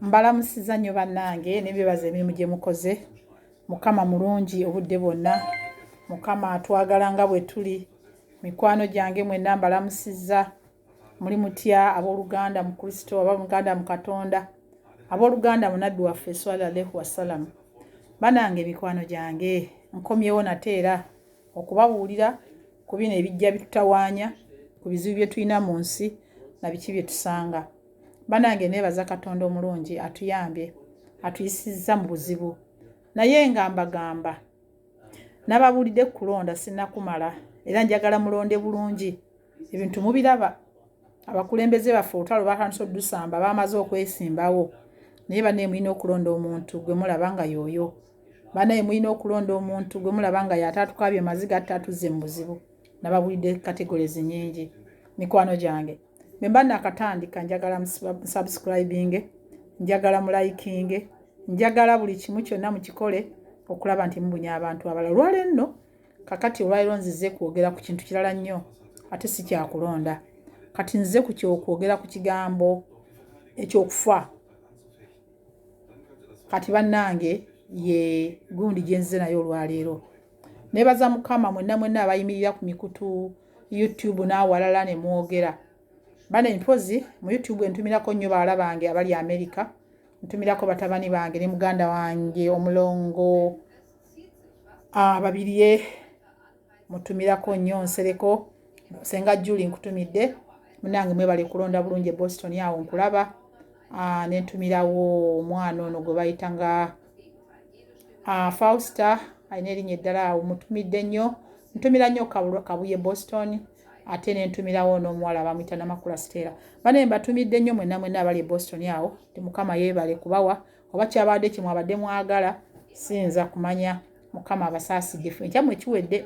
mbalamusiza nnyo bannange nebebaza emirimu gye mukoze mukama mulungi obudde bwonna mukama atwagala nga bwe tuli mikwano gyange mwenna mbalamusiza muli mutya abooluganda mu kristo aba muganda mu katonda abooluganda munabbi waffe eswala alehu wassalamu banange mikwano gyange nkomyewo nate era okubabuulira ku bino ebijja bitutawaanya ku bizibu bye tulina mu nsi na biki bye tusanga banange nebaza katonda omulungi atuyambye atuyisizza mu buzibu naye nga mbagamba nababulidde kulonda sinakumala era njagala mulonde bulungi ebintu mubiraba abakulembeze baffe olutalo batandisa odusamba bamaze okwesimbawo naye banaye mulina okulonda omuntu gwe mulaba nga yoyo banaye mulina okulonda omuntu gwe mulaba nga yatatukabye maziga atatuzze mu buzibu nababulidde kategorezi nyingi mikwano gyange bwe mba nakatandika njagala musubscribinge njagala mulayikinge njagala buli kimu kyonna mukikole okulaba nti mubunya abantu abalala olwala enno kakati olwaliro nzize kwogera ku kintu kirala nnyo ate si kyakulonda kati nzize ku kyokwogera ku kigambo ekyokufa kati bannange ye gundi gyenzize naye olwaleero nebaza mukama mwenna mwenna abayimirira ku mikutu youtube n'awalala ne mwogera bane mpozi mu youtube entumirako nnyo bawala bange abali amerika ntumirako batabani bange ne muganda wange omulongo ababirye ah, mutumirako nnyo nsereko senga juli nkutumidde munange mwebale kulonda bulungi e boston awo nkulaba ah, nentumirawo omwana ono gwe bayita nga ah, fausta alina erinnya eddala awo mutumidde nnyo ntumira nnyo kabuye boston ate nentumirawo n'omuwala bamwita namakula siteera banaye mbatumidde nnyo mwena mwena abali e boston awo ti mukama yeebale kubawa oba kyabadde kyemwabadde mwagala siyinza kumanya mukama abasaasiddefu ekyamwe kiwedde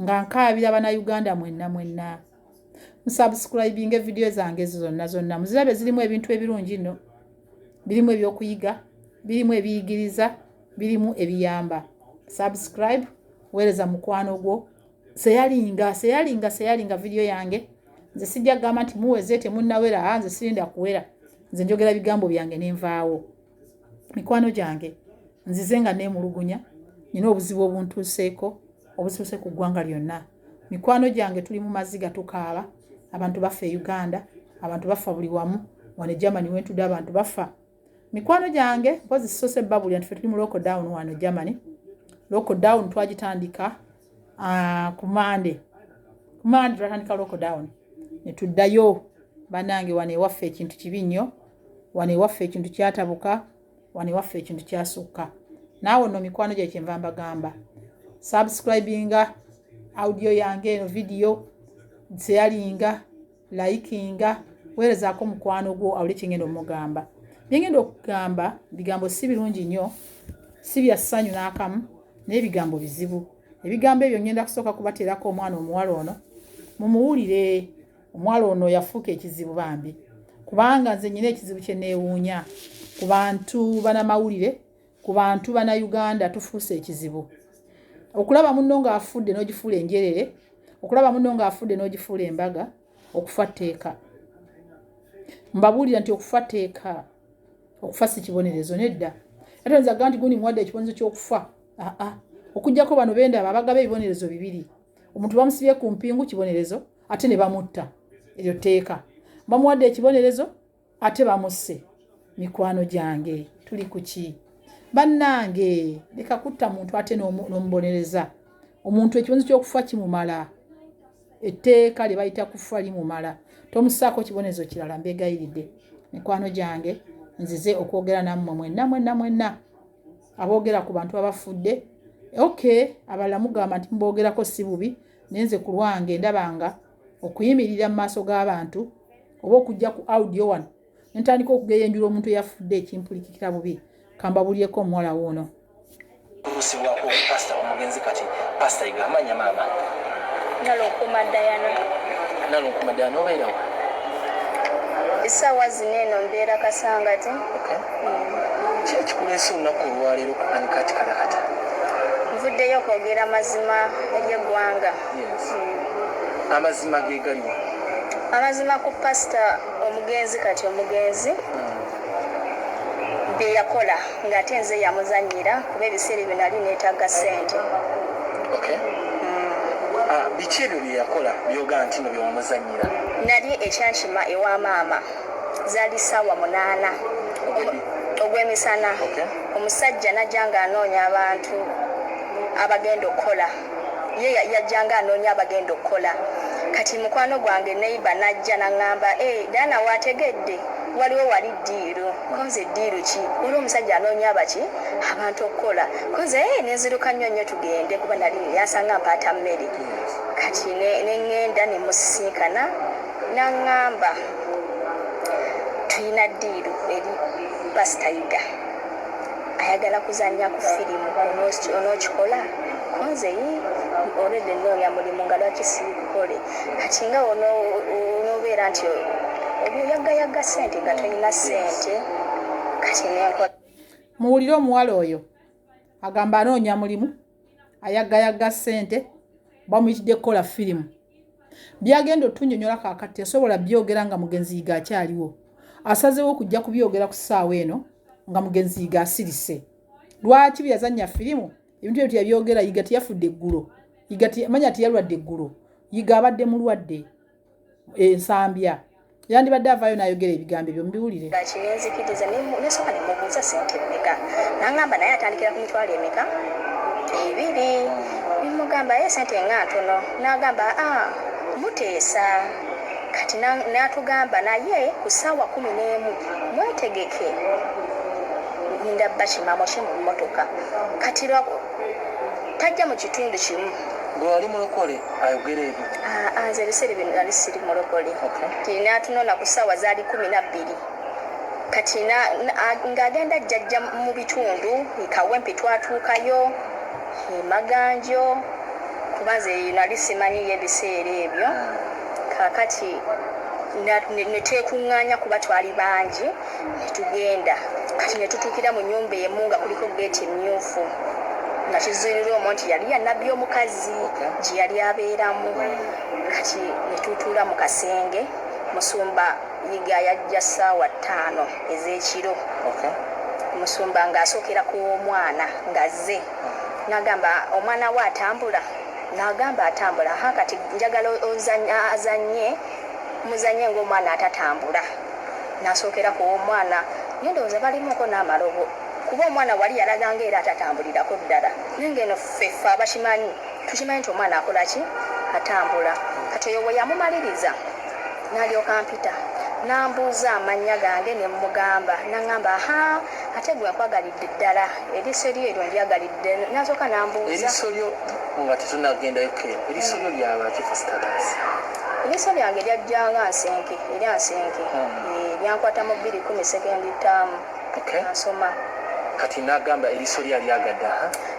nga nkaabira banauganda mwenna mwenna musubscribing evidiyo zange ezo zonna zonna muzirabe zirimu ebintu ebirungi nno birimu ebyokuyiga birimu ebiyigiriza birimu ebiyamba subscribe weereza mukwano gwo seyalinga seyalinga seyalinga vidiyo yange nze sijja kugamba nti muweze temunnawera a ah, nze sirinda kuwera nze njogera bigambo byange nenvaawo mikwano gyange nzize nga neemulugunya nina obuzibu obuntuuseeko obusiuse ku ggwanga lyonna mikwano gyange tuli mu maziga tukaaba abantu baffa e uganda abantu baffa buli wamu wano e germany wentudde abantu baffa mikwano gyange mpozi sisose babuli anti fe tuli mu lockdown wano germany lockdown twagitandika ah, ku mande ku mande twatandika lockdown ne tuddayo banange wano ewaffe ekintu kibi nnyo wano ewaffe ekintu kyatabuka wano ewaffe ekintu kyasukka naawe no mikwano gye kyenva mbagamba subscribinga audio yange eno vidiyo seyalinga layikinga weerezaako mukwano gwo awuli kyengenda omugamba byengenda okugamba bigambo si birungi nnyo si bya ssanyu n'akamu naye bigambo bizibu ebigambo ebyo ngenda kusooka kubateerako omwana omuwala ono mumuwulire omuwala ono yafuuka ekizibu bambi kubanga nze nyina ekizibu kyeneewuunya ku bantu banamawulire ku bantu bana Uganda tufuuse ekizibu okulaba munno ng'afudde n'ogifuula enjerere okulaba munno ng'afudde n'ogifuula embaga okufa tteeka mbabuulira nti okufa tteeka okufa si kibonerezo nedda ate nza ga nti gundi muwadde ekibonerezo ky'okufa aa okuggyako bano bendaba abagaba ebibonerezo bibiri omuntu bamusibye ku mpingu kibonerezo ate ne bamutta eryo tteeka bamuwadde ekibonerezo ate bamusse mikwano gyange tuli kuki bannange leka kutta muntu ate n'omubonereza omuntu ekibonzo ky'okufa kimumala etteeka lye bayita kufa limumala tomusaako kibonezo kirala mbegayiridde mikwano gyange nzize okwogera nammwe mwenna mwenna mwenna aboogera ku bantu abafudde ok abalala mugamba nti muboogerako si bubi naye nze ku lwange ndabanga okuyimirira mu maaso g'abantu oba okujja ku audio wano nentandika okugeyenjula omuntu eyafudde ekimpulikikira bubi kamba bulyeko omuwala woono kusibwako pasta omugenzi kati pasta iga amanya maama nalonkuma dayana nalonkuma dayana obeerawo esaawa zino eno mbeera kasangati kiri kikuleesa olunaku olwaleero kukanikati kalakata nvuddeyo okwogera mazima ery'eggwanga amazima gegaliwa amazima ku pasita omugenzi kati omugenzi byeyakola ngaate nze yamuzanyira kuba ebiseera ebyo nali netaga sente mm. ah, biki ebyo byeyakola byoga nti no byewamuzanyira nali ekyankima ewa maama zali saawa munaana ogwemisana omusajja najja nga anoonya abantu abagenda okukola ye yajjanga anoonya abagenda okukola kati mukwano gwange neighbor najja nangamba eh Diana wategedde waliwo wali ddiiru konze ddiiru ki waliwo omusajja anoonya abaki abantu okukola konze eh nenziruka nnyo nnyo tugende kuba nali yansanga mpaata mmere kati nengenda nemusisinkana nangamba tulina ddiiru eri pasita yuda ayagala kuzanya ku firimu onokikola kunze yi olede noonya mulimu nga lwaki sikukole kati nga onobeera nti oyagayaga sente nga tolina sente kati nenkola muwulire omuwala oyo agamba anoonya mulimu ayagayagga ssente bamuyitidde kukola firimu byagenda otunyonyola kakati asobola byogera nga mugenzi yiga akyaliwo asazewo okujja kubyogera ku ssaawa eno nga mugenzi yiga asirise lwaki byeyazannya firimu ebintu ebyo teyabyogera yiga teyafudde eggulo yiga manya teyalwadde eggulo yiga abadde mulwadde ensambya yandibadde avaayo n'ayogera ebigambo ebyo mubiwulire kati nenzikiriza nesooka nemubuuza sente emeka nangamba naye atandikira ku mitwalo emeka ebiri nemugamba ye sente nga ntono nagamba a ah, muteesa kati natugamba naye ku ssaawa kumi n'emu mwetegeke ninda bakimamo ki mu mmotoka kati tajja mu kitundu kimu gwe wali mulokole ayogera ebyo ah, ah, nze ebiseera bino nali siri mulokole tina atunona ku ssaawa zaali kumi nabbiri kati ng'agenda jjajja mu bitundu ekawempi twatuukayo emaganjo kuba nze nali simanyiyo ebiseera ebyo hmm. kakati netwekuŋŋaanya kuba twali bangi Ne tugenda kati ne tutuukira mu nnyumba emu nga kuliko ggeeti emmyufu nga kizuulirwa omwo nti yali ya Nabbi omukazi gye yali abeeramu. Kati ne tutuula mu kasenge Musumba Yiga yajja ssaawa ttaano ez'ekiro. Musumba ng'asookera ku w'omwana ng'azze n'agamba, omwana wo atambula? N'agamba, atambula. Ha kati njagala ozanye, azanye, muzanye ng'omwana atatambula. Nasookera ku w'omwana naye ndowooza balimuuko n'amalobo kuba omwana wali yalaga nga era atatambulirako ddala naye nga eno ffe ffe abakimanyi tukimanyi nti omwana akola ki? Atambula. Kati oyo bwe yamumaliriza n'alyoka ampita n'ambuuza amannya gange ne mmugamba n'angamba ahaa ate gwe nkwagalidde ddala eriiso lyo eryo ndyagalidde n'asooka n'ambuuza. Eriiso lyo nga tetunagendayo Ken, eriiso lyo lyaba ki first class? Ebisa byange byajja nga nsenke eri asenke hmm. byankwata mu bbiri kumi sekendi ttaamu asoma kati nagamba eriso lye alyagadde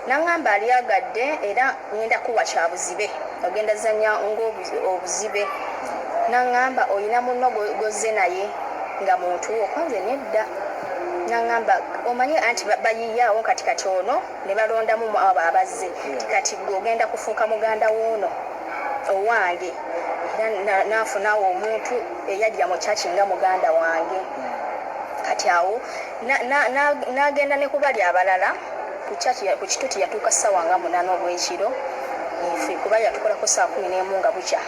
nagamba alyagadde era ngenda kuwa kyabuzibe ogenda zanya ngaobuzibe hmm. nagamba olina muno gozze naye nga muntu okonze nedda nagamba omanye anti bayiyawo kati kati ono ne balondamu mu abo abazze nti kati ggwe ogenda kufuuka muganda w'ono owange era n'afunawo omuntu eyajja mu kyaki nga muganda wange kati awo n'agenda ne kubali abalala ku kituti yatuuka ssaawa nga munaana obw'ekiro nfe kuba yatukolako saa kumi n'emu nga bukya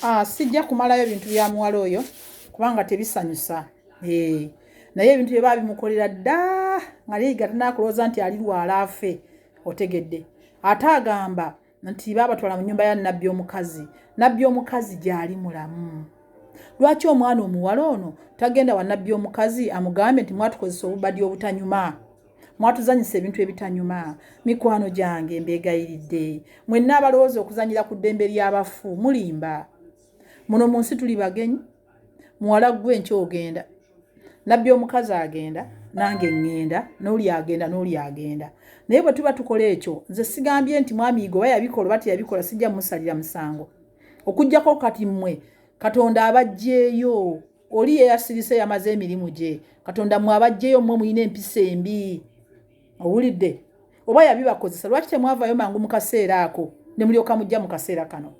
ah, sijja kumalayo bintu bya muwala oyo kubanga tebisanyusa eh, naye ebintu bye babimukolera dda nga leyiga tanakulowooza nti ali lwala afe otegedde ate agamba nti baabatwala mu nyumba ya nabbi omukazi nabbi omukazi gyali mulamu lwaki omwana omuwala ono tagenda wa nabbi omukazi amugambe nti mwatukozesa obubadi obutanyuma mwatuzanyisa ebintu ebitanyuma mikwano gyange mbeegayiridde mwenna abalowooza okuzanyira ku ddembe ly'abafu mulimba muno mu nsi tuli bagenyi muwala ggwe nky ogenda nabbi omukazi agenda nange ŋŋenda n'oli agenda n'oli agenda naye bwe tuba tukola ekyo nze sigambye nti mwamiigo oba yabikola oba teyabikola sijja musalira musango okuggyako kati mmwe katonda abajjeeyo oli yeyasirise yamaze emirimu gye katonda mwe abajjeyo mwe muyina empisa embi owulidde oba yabibakozesa lwaki temwavayo mangu mu kaseera ako ne mulyoka mujja mu kaseera kano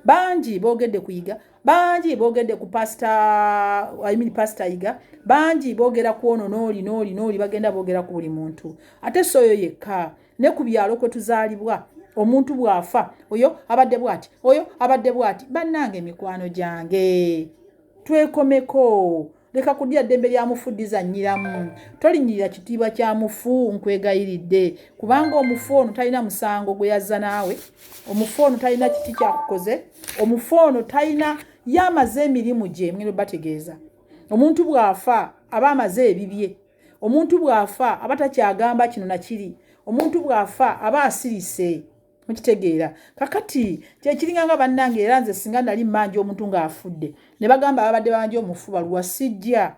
bangi boogedde kuyiga bangi boogedde ku pasita I mean pasita yiga bangi boogera kwono nooli nooli nooli bagenda boogera ku buli muntu ate soyo yekka ne ku byalo kwe tuzaalibwa omuntu bw'afa oyo abadde bw'ati oyo abadde bw'ati bannanga emikwano gyange twekomeko leka kudya ddembe lya mufu ddizannyiramu tolinyirira kitiibwa kya mufu nkwegayiridde kubanga omufu ono talina musango gwe yazza naawe omufu ono talina kiti kyakukoze omufu ono talina ye amaze emirimu gye mwino bategeeza omuntu bw'afa aba amaze ebibye omuntu bw'afa aba takyagamba kino na kiri omuntu bw'afa aba asirise mukitegeera kakati kyekiringa nga bannange era nze singa nali mmanja omuntu ng'afudde ne bagamba ababadde babanja omufu baluwa sijja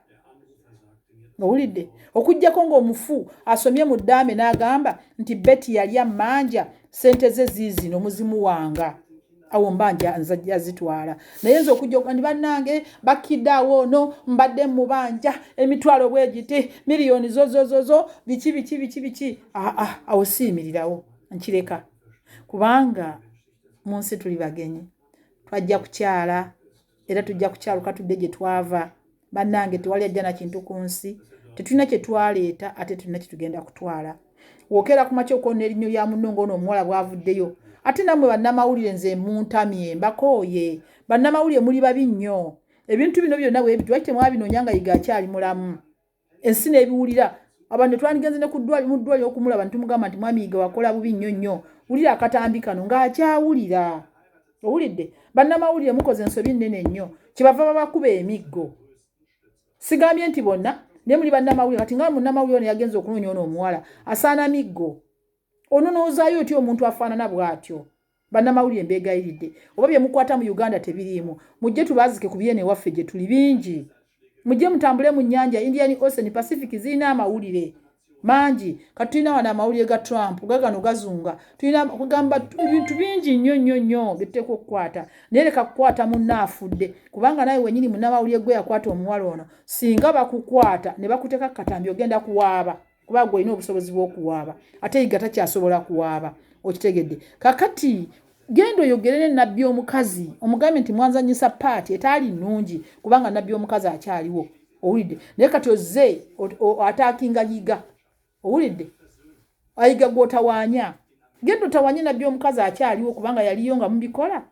owulidde okugyako ng'omufu asomye mu ddaame n'agamba nti beti yali ammanja ssente ze ziizino muzimu wanga awo mba nzajja zitwala naye nze okujja okugandi bannange bakkidde awo ono mbadde mubanja emitwalo bwegiti miliyoni zozozozo biki biki biki biki aa awo siyimirirawo nkireka kubanga mu nsi tuli bagenyi twajja kukyala era tujja kukyaluka tudde gye twava bannange tewali ajja na kintu ku nsi tetulina kye twaleeta ate tulina kye tugenda kutwala wookeera ku makya okwona erinnyo lya munno ng'ono omuwala bwavuddeyo ate nammwe bannamawulire nze muntamye mbakooye bannamawulire muli babi nnyo ebintu bino byonna bwebiti lwaki temwabinoonya nga yiga akyali mulamu ensi nebiwulira abantu netwandigenze ne kudwali mu ddwali okumulaba nitumugamba nti mwami yiga wakola bubi nnyo nnyo wulira akatambi kano ng'akyawulira owulidde bannamawulire mukoze ensobi nnene nnyo kyebava babakuba emiggo sigambye nti bonna naye muli bannamawulire kati nga munnamawulire ono yagenza okunoonya ono omuwala asaana miggo ono noozaayo otya omuntu afaanana bw'atyo Bannamawulire mbeegayiridde oba bye mukwata mu Uganda tebiriimu mujje tubaazike ku byeno ewaffe gye tuli bingi. Mujje mutambule mu nnyanja Indian Ocean, Pacific zirina amawulire mangi. Kati tulina wano amawulire ga Trump gagano gazunga, tulina kugamba ebintu bingi nnyo nnyo nnyo bye tuteekwa okukwata. Naye leka kukwata munna afudde kubanga nawe wennyini munnamawulire gwe yakwata omuwala ono singa bakukwata ne bakuteeka ku katambi ogenda kuwaaba. kuba gwe olina obusobozi bw'okuwaaba ate yiga takyasobola kuwaaba okitegedde kakati genda oyogerere nabbi omukazi omugambe nti mwanzanyisa paati etaali nnungi kubanga nabbi omukazi akyaliwo owulidde naye kati ozze ataakinga yiga owulidde ayiga gwotawaanya genda otawanye nabbi omukazi akyaliwo kubanga yaliyo nga mubikola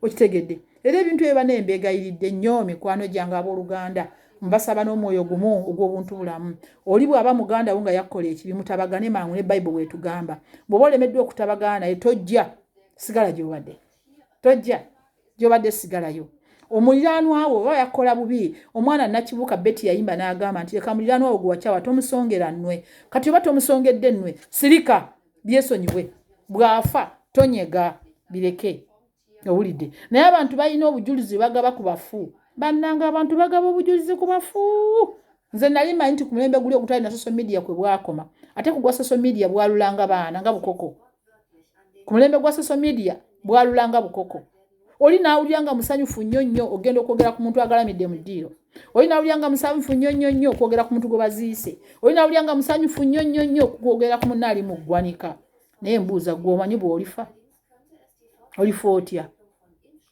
okitegedde era ebintu ebyo bana embeegayiridde nnyo mikwano gyange abooluganda mbasaba n'omwoyo gumu ogw'obuntu bulamu oli bw'aba muganda wo nga yakkola ekibi mutabagane mangu ne bayibuli bwetugamba bw'oba olemeddwa okutabagana naye tojja sigala gyobadde tojja gyobadde sigalayo omuliranwawo oba yakola bubi omwana nakibuka beti yayimba nagamba nti leka muliranwawo gwewacawa tomusongera nwe kati oba tomusongedde nwe sirika byesonyiwe bwafa tonyega bireke owulidde naye abantu balina obujulizi bagaba ku bafu bannanga abantu bagaba obujulizi ku bafu nze nali manyi nti ku mulembe guli ogutali na social media kwe bwakoma ate kugwa social media bwalulanga baana nga bukoko ku mulembe gwa social media bwalulanga bukoko oli n'awulira nga musanyufu nnyo nnyo ogenda okwogera ku muntu agalamidde mu ddiiro oli n'awulira nga musanyufu nnyo nnyo nnyo okwogera ku muntu gwe baziise oli n'awulira nga musanyufu nnyo nnyo nnyo okwogera ku munna ali mu ggwanika naye mbuuza gwe omanyi bw'olifa olifa otya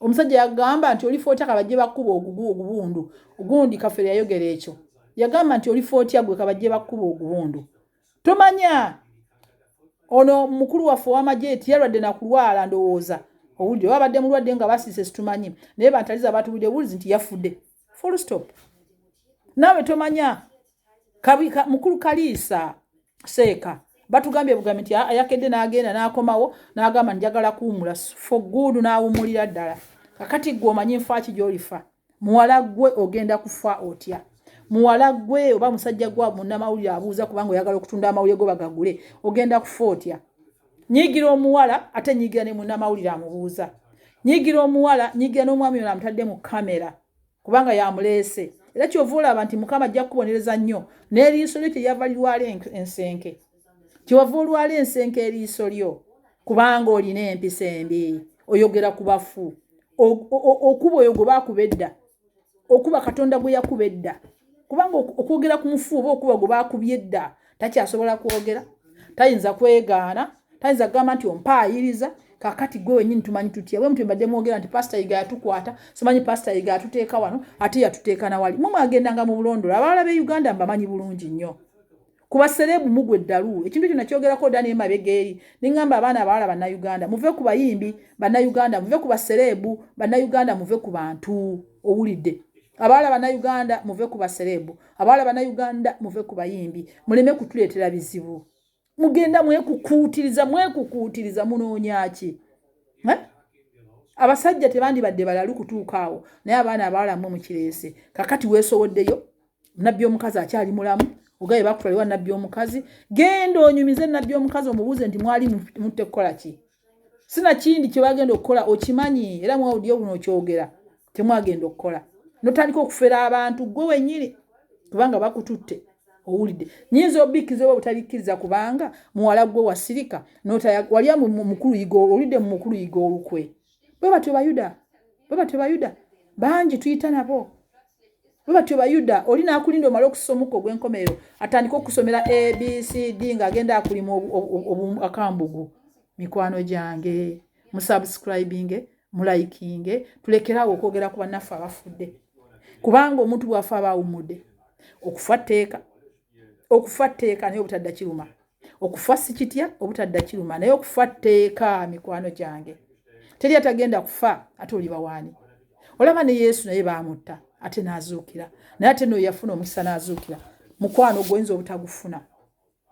omusajja yagamba nti olifa otya kabajje bakkuba ogugu ogubundu gundi kafere yayogera ekyo yagamba nti olifa otya gwe kabajje bakkuba ogubundu tomanya ono mukulu waffe owamagye eti yalwadde nakulwala ndowooza owulire oba abadde mulwadde nga basiise situmanyi naye bantaliza batubulire bulizi nti yafudde full stop naawe tomanya mukulu kaliisa seeka batugambye bugambi nti ayakedde n'agenda n'akomawo n'agamba njagala kuwumula foguudu n'awumulira ddala kakati gwe omanyi nfaaki gy'olifa muwala gwe ogenda kufa otya muwala gwe oba musajja gwe munamawulire abuuza kubanga oyagala okutunda amawulire go bagagule ogenda kufa otya nyigira omuwala ate nyigira ne munamawulire amubuuza nyigira omuwala nyigira n'omwami ono amutadde mu kamera kubanga yamuleese era kyova olaba nti mukama ajja kukubonereza nnyo n'eriiso lyo kyeyava lirwala ensenke kyewava olwala ensenke eriiso lyo kubanga olina empisa embi oyogera ku bafu okuba oyo gwe baakuba edda okuba katonda gwe yakuba edda kubanga okwogera ku mufu oba okuba gwe baakubye edda takyasobola kwogera tayinza kwegaana tayinza kugamba nti ompaayiriza kakati gwe wenyini tumanyi tutya bwe mutwe mbadde mwogera nti pasita yiga yatukwata simanyi pasita yiga yatuteeka wano ate yatuteeka nawali mwe mwagendanga mu bulondolo abalala be uganda mbamanyi bulungi nnyo kuba serebu mugwe ddalu ekintu kino kyogerako dda naye mabega eri ne ŋŋamba abaana abawala bannayuganda muve ku bayimbi bannayuganda muve ku baserebu bannayuganda muve ku bantu owulidde abawala bannayuganda muve ku baserebu abawala bannayuganda muve ku bayimbi muleme kutuleetera bizibu mugenda mwekukuutiriza mwekukuutiriza munoonya ki eh? abasajja tebandibadde balalu kutuuka awo naye abaana abawala mwe mukireese kakati weesowoddeyo nabbi omukazi akyali mulamu ogaye bakutwaliwa nabbi omukazi genda onyumize nabbi omukazi omubuuze nti mwali mutte kukola ki sina kindi kyebagenda okukola okimanyi era mwawudio buno okyogera temwagenda okukola notandika okufera abantu gwe wenyini kubanga bakututte owulidde nyinza obikiza oba butabikkiriza kubanga muwala gwe wasirika wali mukulu yiga olidde mu mukulu yiga olukwe bwe batyo bayuda bwe batyo bayuda bangi tuyita nabo bwe batyo bayuda oli n'akulinda omala okussa omukka ogw'enkomerero atandika okusomera abcd ng'agenda akulima akambugu mikwano gyange musubscribinge mulayikinge tulekeraawo okwogera ku bannaffe abafudde kubanga omuntu bw'afa aba awumudde okufa tteeka okufa tteeka naye obutadda kiruma okufa si kitya obutadda kiruma naye okufa tteeka mikwano gyange teri atagenda kufa ate oli bawaani olaba ne yesu naye baamutta ate n'azuukira naye ate no yafuna omukisa n'azuukira mukwano gwoyinza obutagufuna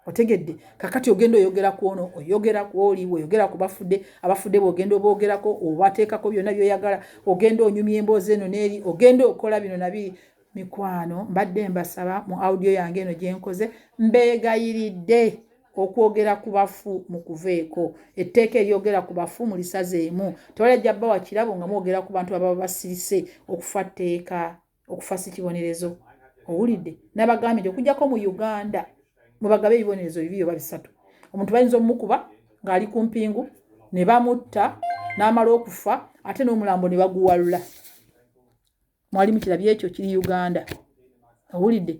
otegedde kakati ogenda oyogera ku ono oyogera ku oli oyogera ku bafudde abafudde bwogenda oboogerako obateekako byonna byoyagala ogenda onyumya emboozi eno n'eri ogenda okola bino nabiri Mikwano mbadde mbasaba mu audio yange eno gye nkoze mbeegayiridde okwogera ku bafu mu kuveeko etteeka eryogera ku bafu mu lisaze emu tewalajja bba wa kirabo nga mwogera ku bantu ababa basirise okufa tteeka okufa si kibonerezo owulidde nabagambye nti okujjako mu uganda mwebagaba ebibonerezo bibi oba bisatu omuntu bayinza omumukuba ng'ali ku mpingu ne bamutta n'amala okufa ate n'omulambo ne baguwalula mwali mukirabye ekyo kiri uganda owulidde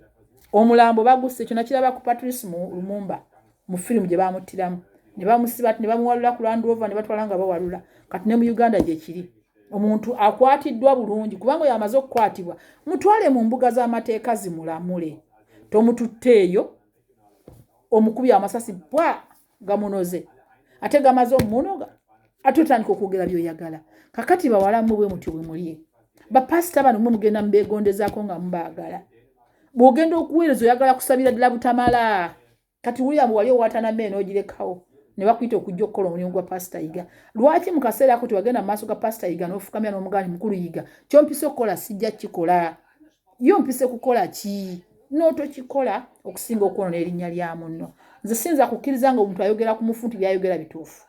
omulambo bagusse ekyo nakiraba ku patrice mu lumumba mu firimu gye bamuttiramu ne bamusiba ne bamuwalula ku landrova ne batwala nga bawalula kati ne mu uganda gyekiri omuntu akwatiddwa bulungi kubanga oyo amaze okukwatibwa mutwale mu mbuga z'amateeka zimulamule tomututte eyo omukubi amasasi bwa gamunoze ate gamaze omunoga ate otandika okwogera byoyagala kakati bawala mwe bwe mutyo bwe mulie bapasita bano mwe mugenda mubegondezaako nga mubaagala bw'ogenda okuweereza oyagala kusabira ddala butamala kati wulira mbu wali owatana meeno ogirekawo ne bakuyita okujja okukola omulimu gwa pasita yiga lwaki mu kaseera ako tewagenda mu maaso ga pasita yiga n'ofukamira n'omugaani mukulu yiga kyompisa okukola sijja kikola yo mpise kukola ki n'otokikola okusinga okwonona erinnya lya munno nze siyinza kukkiriza nga omuntu ayogera ku mufu nti byayogera bituufu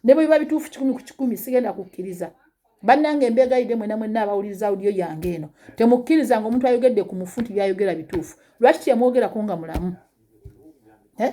ne bwe biba bituufu kikumi ku kikumi sigenda kukkiriza bannanga embeegayidde mwena mwenna abawuliriza audiyo yange eno temukkiriza nga omuntu ayogedde ku mufu nti byayogera bituufu lwaki kyemwogerako nga mulamu eh?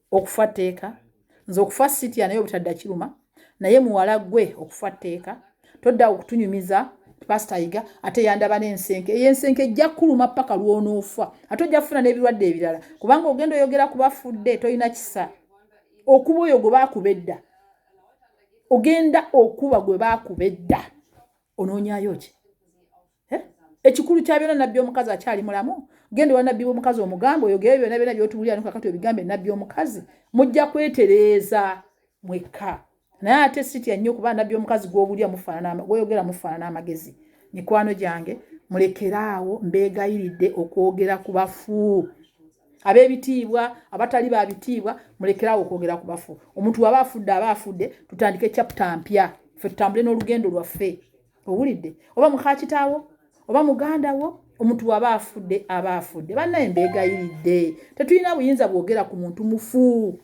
okufa tteeka nze okufa sitya naye obutadda kiruma naye muwala gwe okufa tteeka todda okutunyumiza pasita yiga ate yandaba n'ensenke eyo ensenke ejja kukuluma paka lwonoofa ate ojja kufuna n'ebirwadde ebirala kubanga ogenda oyogera ku bafudde tolina kisa okuba oyo gwe baakuba edda ogenda okuba gwe baakuba edda onoonyayo ki eh? ekikulu kya byona nabbi omukazi akyali mulamu genda owa nabbi omukazi omugamba oyogere byona byona byotubulira nokakati obigambe nabbi omukazi mujja kwetereeza mwekka naye ate sitya nnyo kuba nabbi omukazi gwobulya mufaanana gwoyogera mufaanana amagezi mikwano gyange mulekeraawo mbeegayiridde okwogera ku bafu abebitiibwa abatali ba bitiibwa mulekerawo okwogera ku bafu omuntu waba afudde aba afudde tutandike chapta mpya fe tutambule n'olugendo lwaffe owulidde oba mukakitaawo oba muganda wo omuntu waba afudde aba afudde banaye mbeegayiridde tetulina buyinza bwogera ku muntu mufu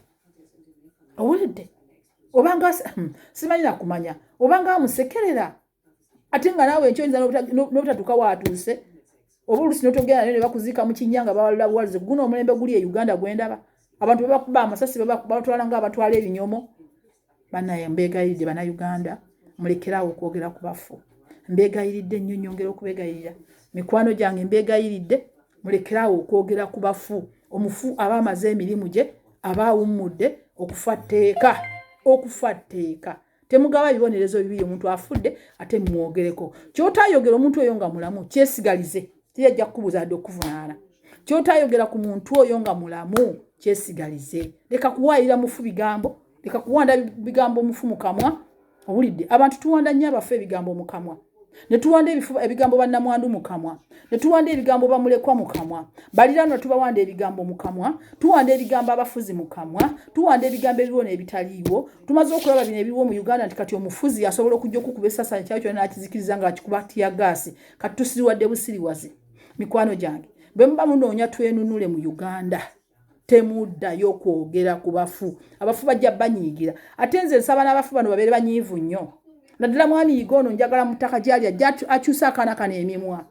owulidde obanga hmm, simanyi nakumanya obanga amusekerera ate nga naawe enkyo oyinza n'obutatuuka waatuuse oba olusi notogenda nayo ne bakuziika mu kinnya nga bawalula buwalize guno omulembe guli e uganda gwendaba abantu bebakuba amasasi babatwala nga abatwala ebinyomo banaye mbeegayiridde banauganda mulekeraawo okwogera ku bafu mbeegayiridde nnyo nyongera okubegayirira mikwano gyange mbeegayiridde mulekeraawo okwogera ku bafu omufu aba amaze emirimu gye aba awummudde okufa tteeka okufa tteeka temugaba bibonerezo bibiri omuntu afudde ate mumwogereko kyotayogera omuntu oyo nga mulamu kyesigalize tiyajja kukubuza adde okuvunaana kyotayogera ku muntu oyo nga mulamu kyesigalize leka kuwaayira mufu bigambo leka kuwanda bigambo omufu mukamwa owulidde abantu tuwanda nnyo abafu ebigambo mukamwa ne tuwanda ebifuba ebigambo bannamwandu mu kamwa ne tuwanda ebigambo bamulekwa mu kamwa baliraanwa tubawanda ebigambo mu kamwa tuwanda ebigambo abafuzi mu kamwa tuwanda ebigambo ebiriwo n'ebitaliiwo tumaze okulaba bino ebiriwo mu uganda nti kati omufuzi asobola okujja okukuba esasanya kyalo kyona n'akizikiriza ng'akikuba tiyagaasi kati tusiriwadde busiriwazi mikwano gyange bwe muba munoonya twenunule mu uganda temuddayo kwogera ku bafu abafu bajja banyiigira ate nze nsaba n'abafu bano babeere banyiivu nnyo naddala mwami yiga ono njagala mu ttaka gyali ajja akyusa akaana kano emimwa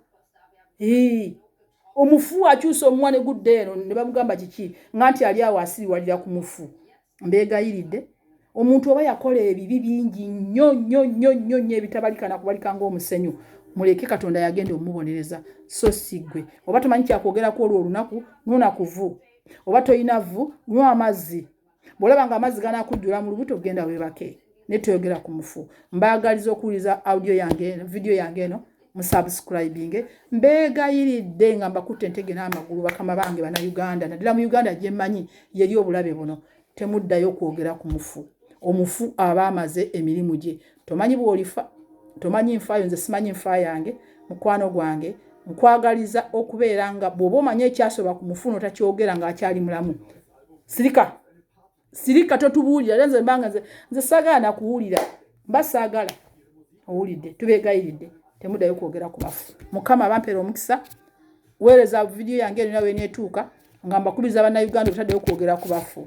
omufu akyusa omumwa ne gudda eno ne bamugamba kiki nga nti ali awo asiriwalira ku mufu mbeegayiridde omuntu oba yakola ebibi bingi nnyo nnyo nnyo nnyo nnyo ebitabalika nakubalika ngaomusenyu muleke katonda yagenda omubonereza so si gwe oba tomanyi kyakwogerako olwo olunaku nona kuvu oba tolina vu nwa amazzi bwolaba nga amazzi ganakujjula mu lubuto genda webake naye toyogera ku mufu mbaagaliza okuwuliza audio yange eno vidiyo yange eno musubscribinge mbeegayiridde nga mbakutte entege n'amagulu bakama bange bana uganda naddala mu uganda gye mmanyi yeri obulabe buno temuddayo okwogera ku mufu omufu aba amaze emirimu gye tomanyi bwolifa tomanyi nfaayo nze simanyi nfa yange mukwano gwange nkwagaliza okubeera nga bw'oba omanya ekyasoba ku mufu notakyogera ng'akyali mulamu sirika sirika totubuulira era nze mbanga nze nze sagaana kuwulira mba saagala owulidde tubeegayiridde temudayo kwogera ku bafu mukama abampeera omukisa weereza vidiyo yange erina weneetuuka nga mbakubiriza bannayuganda obutaddeyo kwogera ku bafu